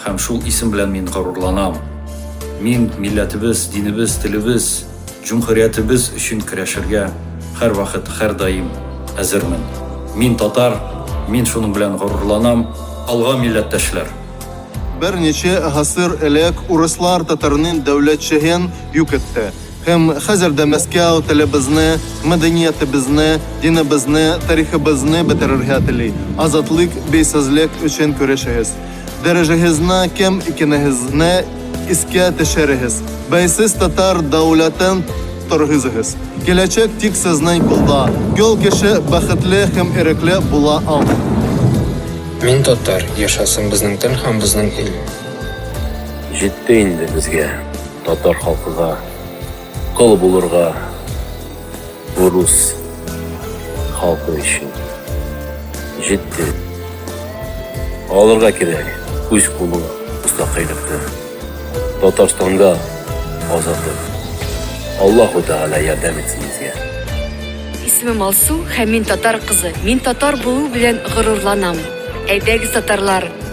Һәм шул исем белән мин горурланам. Мин милләтебез, динебез, телебез, җөмһүриятебез өчен көрәшергә һәрвакыт, һәрдаим әзермен. Мин татар, мин шуның белән горурланам. Алга, милләттәшләр! Берничә гасыр элек урыслар татарнын дәүләтчеген юк итте. Һәм хәзер дә Мәскәү телебезне, мәдәниятебезне, динебезне, тарихыбызны бетерергә тели. Азатлык, бәйсезлек өчен көрәшегез! Дәрәҗәгезне кем икәнегезне искә төшерегез. Бәйсез татар дәүләтен торгызыгыз. Киләчәк тик сезнең кулда. Гел кеше бәхетле һәм ирекле була алмый. Мин татар, яшәсен безнең тел һәм безнең ил! Җитте инде безгә, татар халкыга, кол булырга! Урус халкы өчен җитте. Алырга кирәк үз кулы мустакыйлыкны. Татарстанда азатлык. Аллаһу Тәгалә ярдәм итсен безгә. Исемем Алсу һәм мин татар кызы. Мин татар булу белән горурланам. Әйдәгез, татарлар!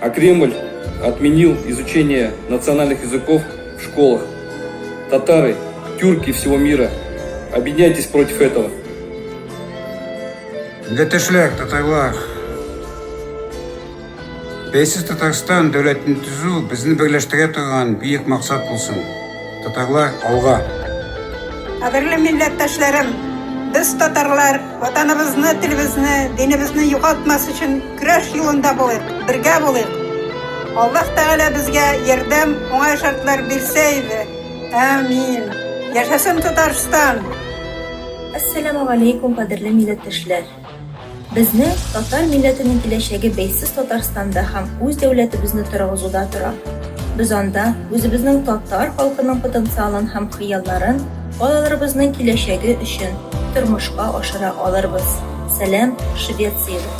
А Кремль отменил изучение национальных языков в школах. Татары, тюрки всего мира, объединяйтесь против этого. Дәтешләр, татарлар, Бәйсез Татарстан дәүләтен төзү безне берләштерә торган бөек максат булсын. Татарлар алга. Кадерле милләттәшләрем, без татарлар ватаныбызны, телебезне, динебезне югалтмас өчен Көрәш юлында булыйк, бергә булыйк. Аллаһ Тәгалә безгә ярдәм, уңай шартлар бирсә иде. Әмин. Яшәсен Татарстан! Әссәләмү галәйкүм кадерле милләттәшләр! Безнең татар милләтенең киләчәге бәйсез Татарстанда һәм үз дәүләтебезне торгызуда тора. Без анда үзебезнең татар халкының потенциалын һәм хыялларын балаларыбызның киләчәге өчен тормышка ашыра алырбыз. Сәлам, Швециядән!